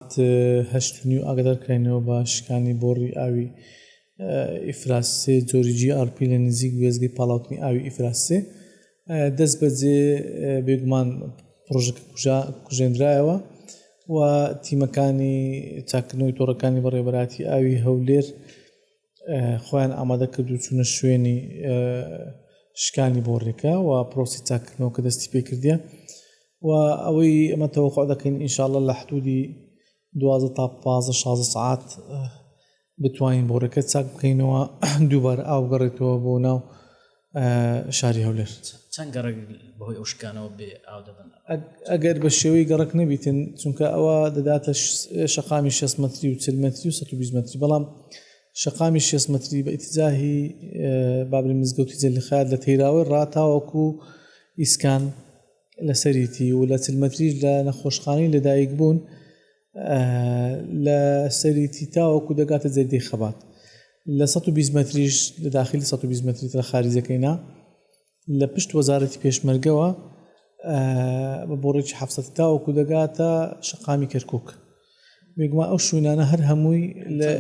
سەعات هەشت و نیو ئاگادارکراینەوە بە شکانی بۆڕی ئاوی ئیفراز سێ جۆری جی ئاڕ پی لە نزیک وێستگەی پاڵاوتنی ئاوی ئیفراز سێ دەستبەجێ بێگومان پڕۆژەکە کوژێندرایەوە و تیمەکانی چاککردنەوەی تۆڕەکانی بەڕێوەبەرایەتی ئاوی هەولێر خۆیان ئامادە کرد و چوونە شوێنی شکانی بۆڕێکە و پرۆسی چاکردنەوە کە دەستی پێکردە و ئەوەی ئەمە تەوەخوا دەکەین ئینشاالله لە حدودی دوازە تا پازە شازە سعات بتوانین بۆڕەکە چاک بکەینەوە دووبارە ئاوگەڕێتەوە بۆ ناو شاری هەولێر. چەند گەڕەک بەهۆی ئەو شکانەوە بێ ئاو دەبن؟ ئەگەر بە شێوەی گەڕەک نەبیتن چونکە ئەوە دەداتە شەقامی 6 مەتری و چل مەتری و 120 مەتری بەڵام شەقامی 6 مەتری بە ئیتزاهی بابلی مزگەوتی جەلیخات لە تەیراوەی ڕاتاوەکو ئیسکان لەسەریتی و لە چل مەتریش لە نەخۆشخانەی لەدایک بوون لە سەریتی تاوەکو دەگاتە جەردەی خەبات لە 120 مەتریش لە داخلی 120 مەتری ترە خارجەکەینا لە پشت وەزارەتی پێشمەرگەوە بە بۆڕێکی حەفسە تاوەکو دەگاتە شقامی کەرکک بێگومان ئەو شوینانە هەر هەمووی لە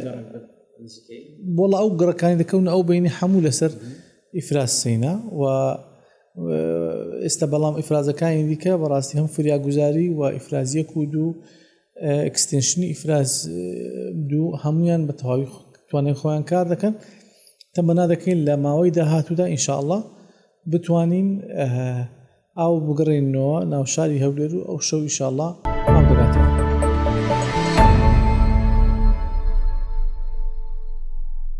بۆڵە ئەو گڕەکانی دەکەون ئەو بینی هەموو لەسەر ئیفراز سینا و ئێستا بەڵام ئیفرازەکانی دیکە بەڕاستی هەم فریاگوزاری و ئیفرازیەک و دوو ئەکسستنشنی ئیفراز دوو هەمویان بە تەواوی توانێن خۆیان کار دەکەن تەمەنا دەکەین لە ماوەی داهاتوودا ئینشاءله بتوانین ئاو بگەڕێنەوە ناو شاری هەولێر و ئەو شەو ئیشاءله ئابگاتەوە